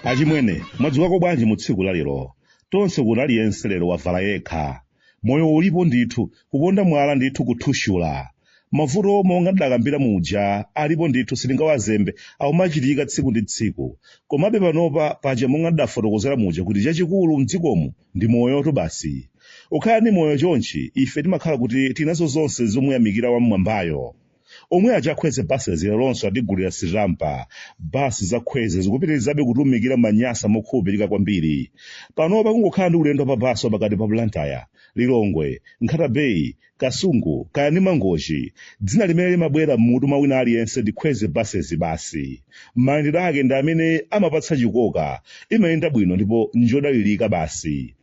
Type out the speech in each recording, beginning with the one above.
achimwene mwadzukako bwanji mu tsiku la lero tonse kuno aliyense lero wavala yekha moyo ulipo ndithu kuponda mwala ndithu kuthushula mavuto omwe monga ndidakambira muja alipo ndithu sitingawazembe akumachitika tsiku ndi tsiku komabe panopa paja monga ndidafotokozera muja kuti chachikulu mdzikomu ndi moyotu basi ukhala ndi moyo chonchi ife timakhala kuti tinazo zonse zomuyamikira wam'mwambayo omwe ache a kwezy buses leronso atigulira sitampa basi za kwezy zikupitirizabe kutumikira manyasa mokhulupirika kwambiri panopa kungokhala ndi ulendo wa pa basi pakati pa blantyre lilongwe nkhata bay Kasungu, kaya ndi Mangochi, dzina limene limabwera m'mutu mwa wina aliyense ndi Kwezy Buses basi. Mayendedwe ake ndi amene amapatsa chikoka, imayenda bwino ndipo n'njodalirika basi.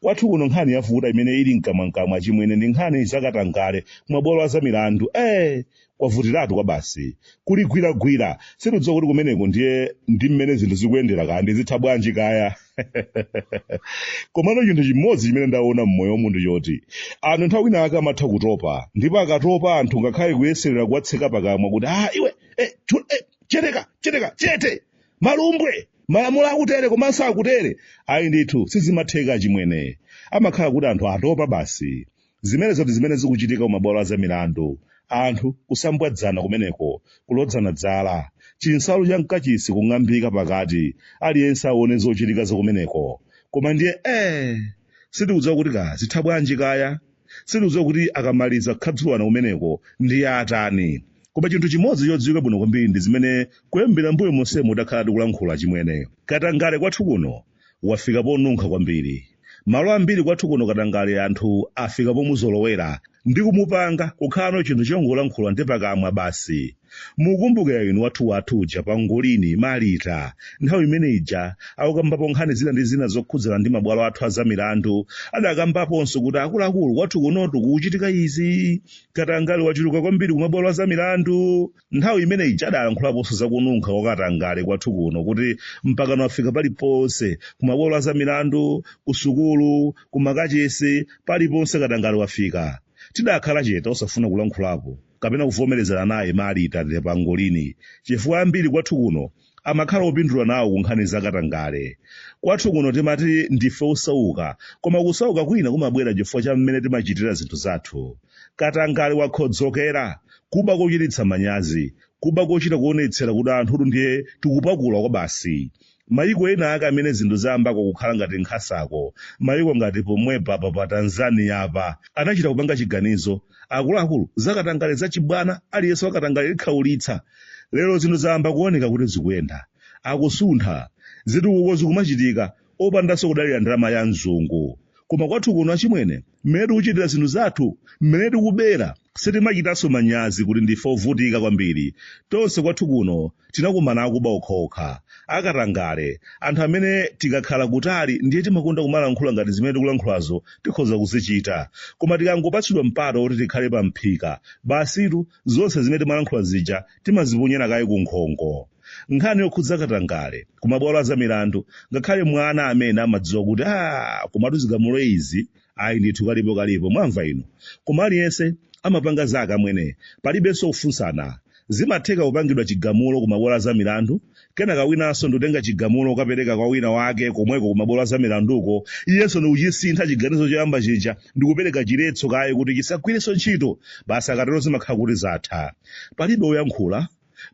Kwathu kuno nkhani yavuta imene ili mkamwamkamwa achimwene ndi nkhani za katangale kumabwalo a zamilandu. Eee! kwavutiratu kwabasi. Kuli gwiragwira, sitikudziwa kuti kumeneko ndiye ndi mmene zinthu zikuyendera kaya ndi zitha bwanji kaya. Komano chinthu chimodzi chimene ndaona m'moyo wa munthu choti, anthu nthawi ina ake amatha kutopa, ndipo akatopa anthu ngakhale kuyeserera kuwatseka pakamwa kuti, ah iwe, eh, chu, eh, cheteka, cheteka, chete, malumbwe, malamulo akutere komanso akutere. Ayi ndithu, sizimatheka achimwene. Amakhala kuti anthu atopa basi. Zimenezo ndi zimene zikuchitika kumabwalo a zamilandu. Anthu kusambwadzana kumeneko, kulodzana dzala, chinsalu cha m'kachisi kung'ambika pakati, aliyense aone zochitika za kumeneko. Koma ndiye ee! Sitikudziwa kuti kaya zitha bwanji kaya. Sitikudziwa kuti akamaliza kukhadzulana kumeneko ndiye atani. Koma chinthu chimodzi chodziwika bwino kwambiri ndi zimene kuyambira m'mbuyo monsemu takhala tikulankhula achimwene. Katangale kwathu kuno wafika ponunkha kwambiri. Malo ambiri kwathu kuno katangale anthu afika pomuzolowera ndi kumupanga kukhalano chinthu chongolankhula ndi pakamwa basi. Mukumbukira inu wathu wathu uja Pangolini, Malita, nthawi imene ija akukambapo nkhani zina ndi zina zokhudzana ndi mabwalo athu a zamilandu, adakambaponso kuti akuluakulu kwathu kunotu kukuchitika izi, katangale wachuluka kwambiri kumabwalo a zamilandu. Nthawi imene ija adalankhulaponso za kununkha kwa katangale kwathu kuno kuti mpakano wafika paliponse, kumabwalo a zamilandu, kusukulu, kumakachisi, paliponse katangale wafika. Tidakhala chete osafuna kulankhulapo kapena kuvomerezana naye Marita de Pangolini chifukwa ambiri kwathu kuno amakhala opindula nawo ku nkhani za katangale kwathu kuno timati ndife osauka koma kusauka kwina kumabwera chifukwa cha mmene timachitira zinthu zathu katangale wakhodzokera kuba kochititsa manyazi kuba kochita kuonetsera kuti anthutu ndiye tikupakula kwa basi mayiko ena aka amene zinthu zayambako kukhala ngati nkhasako mayiko ngati pomwepa pa pa tanzania apa anachita kupanga chiganizo akuluakulu zakatangale zachibwana aliyense wakatangale likhaulitsa lero zinthu zayamba kuoneka kuti zikuyenda akusuntha zitukuko zikumachitika opandanso kudalira ndalama ya mzungu koma kwathu kuno achimwene mmene tikuchitira zinthu zathu mmene tikubera sitimachitanso manyazi kuti ndife ovutika kwambiri tonse kwathu kuno tinakumana akuba okhaokha akatangale anthu amene tikakhala kutali ndiye timakonda kumalankhula ngati zimene tikulankhulazo tikhoza kuzichita koma tikangopatsidwa mpata woti tikhale pa mphika basitu zonse zimene timalankhula zija timaziponyera kaye ku nkhongo nkhani yokhudza katangale ku mabwalo a zamilandu ngakhale mwana amene amadziwa kuti a komatu zigamulo izi ayi ndithu kalipo kalipo mwamva inu koma aliyense amapanga zake amwene palibenso kufunsana zimatheka kupangidwa chigamulo ku mabwalo a zamilandu kenaka winanso ndikutenga chigamulo kukapereka kwa wina wake komweko kumabwalo azamilanduko iyenso ndikuchisintha chiganizo choyamba chija ndikupereka chiletso kaye kuti chisagwirenso ntchito basi akatero zimakhala kuti zatha palibe woyankhula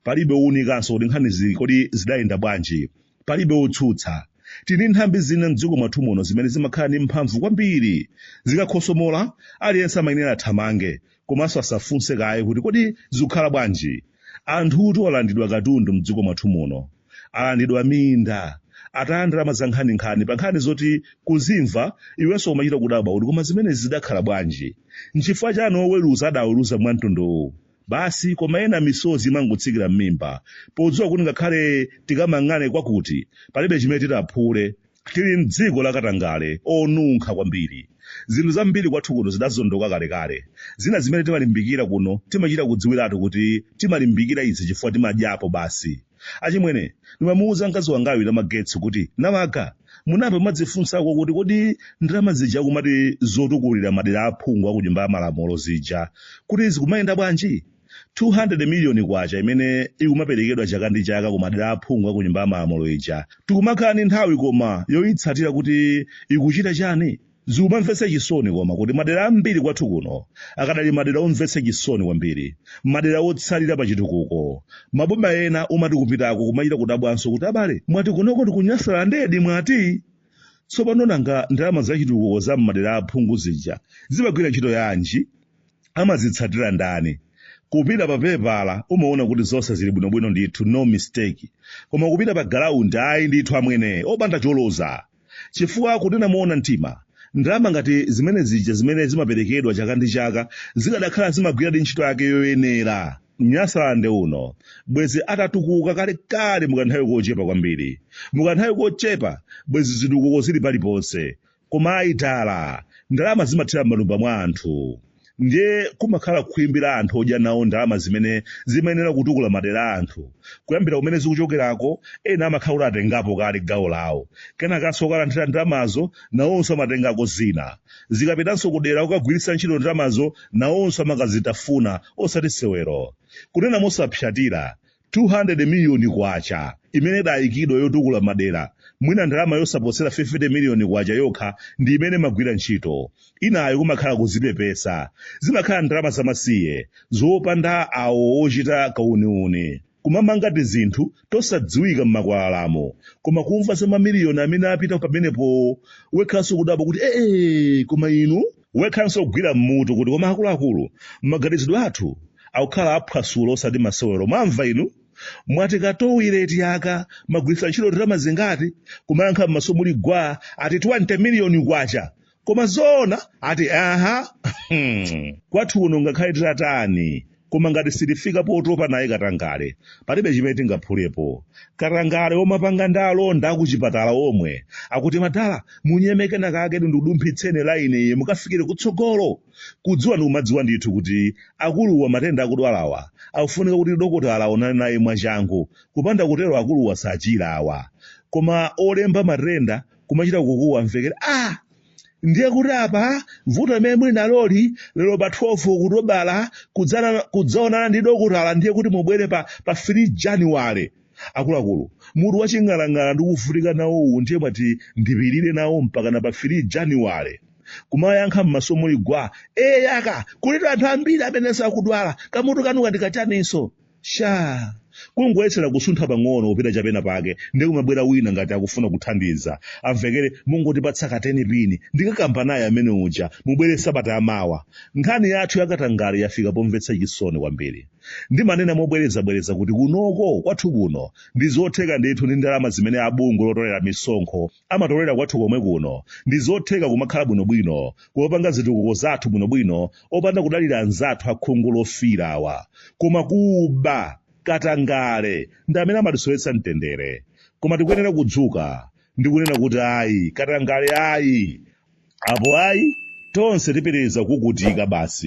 palibe wounikanso kuti nkhanizi kodi zidayenda bwanji palibe wotsutsa tili ndi nthambi zina mdziko mwathu muno zimene zimakhala ndi mphamvu kwambiri zikakhosomola aliyense amayenera athamange komanso asafunse kaye kuti kodi zikukhala bwanji anthutu alandidwa katundu mdziko mwathu muno alandidwa minda ataya ndalama za nkhaninkhani pa nkhani zoti kuzimva iwenso umachita kudabwa kuti koma zimenezi zidakhala bwanji nchifukwa chani oweruza adaweruza mwa mtunduwu basi koma ena misozi imangotsikira m'mimba podziwa kuti ngakhale tikamang'ane kwakuti palibe chimene titaphule Tili m'dziko la katangale onunkha kwambiri. Zinthu zambiri kwathu kuno zidazondoka kalekale. Zina zimene timalimbikira kuno timachita kudziwiratu kuti timalimbikira izi chifukwa timadyapo basi. Achimwene, ndimamuuza mkazi wangayu Namagetsi kuti, Namaga, munayamba mwadzifunsako kuti kodi ndalama zija akumati zotukulira madera a aphungu a ku Nyumba ya Malamulo zija kuti zikumayenda bwanji? 200 miliyoni kwacha imene ikumaperekedwa chaka ndi chaka ku madera aphungu a ku nyumba ya malamulo ija tikumakhala ndi nthawi koma yoyitsatira kuti ikuchita chani zikumamvetsa chisoni koma kuti madera ambiri kwathu kuno akadali madera omvetsa chisoni kwambiri madera otsalira pa chitukuko maboma ena umati kupitako kumachita kudabwanso kuti abale mwati kunoko ndi ku nyasalandedi mwati tsopano nanga ndalama za chitukuko za m'madera aphungu zija zimagwira ntchito yanji amazitsatira ndani? Kupita pa pepala umaona kuti zonse zili bwinobwino ndithu no mistake. Koma kupita pa galaundi ayi ndithu amwene opanda choloza. Chifukwa kunena moona mtima, ndalama ngati zimene zija zimene zimaperekedwa chaka ndi chaka zikadakhala zimagwiradi ntchito yake yoyenera, Nyasaland uno bwezi atatukuka kalekale mu kanthawi kochepa kwambiri. Mu kanthawi kochepa bwezi zitukuko zili paliponse. Koma ayi dala, ndalama zimathera m'matumba mwa anthu. Ndiye kumakhala khwimbi la anthu odya nawo ndalama zimene zimayenera kutukula madera a anthu. Kuyambira kumene zikuchokerako, ena amakhala kuti atengapo kale gawo lawo. Kenakanso okalandira ndalamazo nawonso amatengako zina. Zikapitanso kudera kukagwiritsa ntchito ndalamazo nawonso amakazitafuna, osati sewero. Kunena mosapsatira, 200 miliyoni kwacha imene idayikidwa yotukula madera mwina ndalama yosaposera 50 miliyoni kwacha yokha ndi imene imagwira ntchito inayo kumakhala kuzipepesa zimakhala ndalama zamasiye zopanda awo ochita kauniuni kumamanga tizinthu tosadziwika m'makwalalamu koma kumva za mamiliyoni amene apita pamenepo wekhanso kudabwa kuti ee koma inu wekhanso kugwira mmutu kuti koma akuluakulu maganizidwe athu akukhala aphwasulo osati masewero mwamva inu mwati katoileti aka mwagwiritsa ntchito ndalama zingati kumayankha m'maso muli gwa ati 20 miliyoni kwacha koma zoona ati aha Hmm. kwathu kuno ngakhale titatani Koma ngati sitifika potopa naye katangale, palibe chimene tingaphulepo. Katangale omapanga ndi alonda akuchipatala omwe akuti madala munyeme kenakake ndikudumphitseni laini iyi mukafikire kutsogolo. Kudziwa ndikumadziwa ndithu kuti akuluwa matenda akudwalawa akufunika kuti dokotala aonane naye mwachangu, kupanda kutero akuluwa sachira awa. Koma olemba matenda kumachita kukuwa amvekere, ah! ndiye kuti apa vuto limene muli naloli lero pa 12 okutobala kudzaonana ndi dokotala ndiye kuti mubwere pa, pa 3 januwale akuluakulu mutu waching'alang'ala ndikuvutika nawo uwu ndiye mwati ndipirire nawo mpakana pa 3 januwale kumayankha m'maso muli gwa eyaka kulitu anthu ambiri amene akudwala kamutu kanuka ndi kachaninso shaa kungoyesera kusuntha pang'ono kupita chapena pake ndiye kumabwera wina ngati akufuna kuthandiza amvekere mungotipatsa ka 10 pini ndikakamba naye amene uja mubwere sabata yamawa nkhani yathu yakatangale yafika pomvetsa chisoni kwambiri ndimanena mobwerezabwereza kuti kunoko kwathu kuno ndi zotheka ndithu ndi ndalama zimene a bungwe lotolera misonkho amatolera kwathu komwe kuno ndi zotheka kumakhala bwinobwino kumapanga zitukuko zathu bwinobwino opanda kudalira anzathu akhungu lofiira awa koma kuba katangale ndi amene amatisowetsa mtendere koma tikuyenera kudzuka ndi kunena kuti ayi katangale ayi apo ayi tonse tipitiriza kuvutika basi